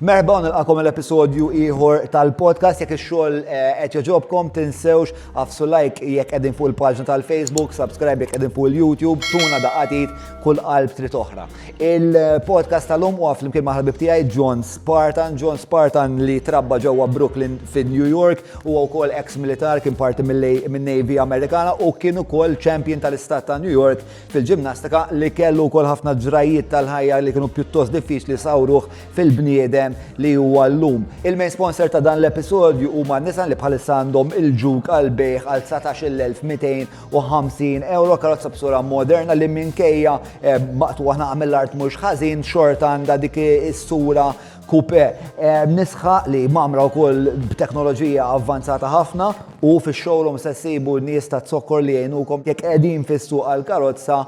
Merħba u nilqakom għal episodju ieħor tal-podcast jekk ix-xogħol eh, qed joġobkom tinsewx afsu like jekk qegħdin fuq il-paġna tal-Facebook, subscribe jekk qegħdin fuq il-YouTube, tuna daqatit kull qalb trid oħra. Il-podcast tal-lum huwa flimkien ma' ħabib tiegħi John Spartan, John Spartan li trabba ġewwa Brooklyn fin New York u wkoll ex-militar kien parti minn Navy Amerikana u kien ukoll champion tal-istat ta' New York Fil-ġimnastika, li kellu wkoll ħafna ġrajjiet tal-ħajja li kienu pjuttost diffiċli sawruh fil-bniedem li huwa llum. Il-main sponsor ta' dan l-episodju huma Nissan li bħalissa għandhom il-Juke għal bejħ għal 19,250 euro karozza b'sura moderna li minkejja eh, maqtuwa ħna mill-art mhux ħażin xorta għandha dik is-sura Coupe, Nisħaq li mgħammra wkoll b'teknoloġija avvanzata ħafna u fix-showroom se ssibu nies taz-zokkor li jgħinukom jekk qegħdin fis-suq għall-karozza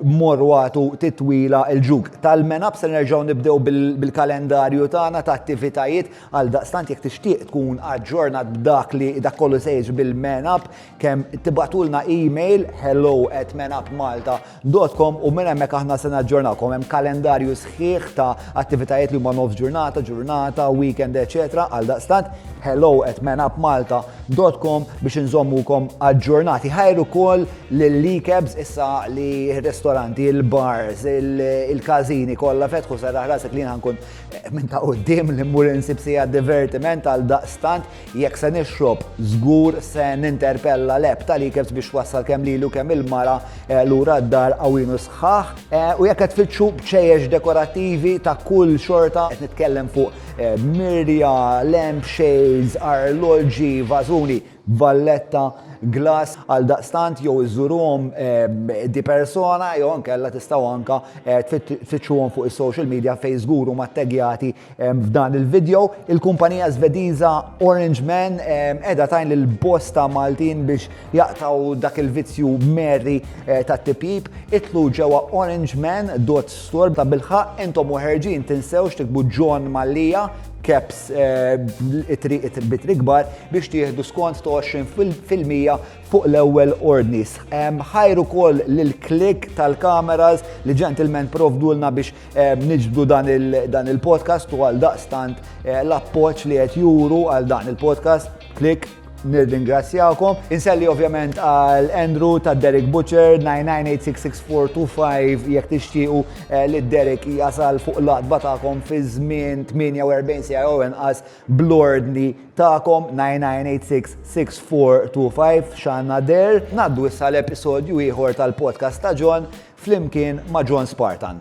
morru agħtu titwila 'l ġug. Tal-menab se nerġgħu nibdew bil-kalendarju tagħna ta' attivitajiet għaldaqstant jekk tixtieq tkun aġġornat b'dak li dak kollu se jiġri bil-menab kemm tibatulna email hello at menupmalta.com u minn hemmhekk aħna se naġġornakom hemm kalendarju sħiħ ta' attivitajiet li huma nofs ġurnata, ġurnata, weekend, eċetera, għal daqstant hello at menupmalta.com biex inżommukom aġġornati. Ħajru kol l-likebs issa li ristoranti, il-bars, il-kazini kollha fetħu sarraħ rasek li nkun eh, minn ta' qudiem li mmur insib sija divertiment għal daqstant Jekk se nixrob, żgur se ninterpella l-Għeb tal-Ikebs biex wassal kemm lili u kemm il-mara lura d-dar qawwin u sħaħ. U jekk qed tfittxu bċejjex dekorattivi ta' kull xorta, qed nitkellem fuq mirja, lampshades, arloġġi, vażuni, valletta, glass, għaldaqstant jew iżżuruhom di persona jew inkella tistgħu anke tfittxuhom fuq is-social media fejn żgur huma ttegjati F'dan il-video, il-kumpanija Svediża Orange Man edha tajn lil bosta Maltin biex jaqtaw dak il-vizzju merri eh, ta' tipjib, itlu ġewwa Orange Man dot store ta' bilħa intom uħerġin tinsewx tikbu John Mallija caps eh, it-bitri kbar biex tieħdu skont ta' 20% fuq l-ewwel ordnis. Ħajru kol l-klik tal-kameras li ġentilmen provdulna biex Niġbdu dan il-podcast u għal daqstant eh, l-appoċ li qed juru għal dan il-podcast klik nirringrazzjakom. Inselli ovvjament għal Andrew ta' Derek Butcher 99866425 jekk tixtiequ eh, li Derek jasal fuq l-adba tagħkom fi żmien 48 sija jew inqas blordni tagħkom 99866425 xanna der. Naddu issa l-episodju ieħor tal-podcast ta' John flimkien ma' John Spartan.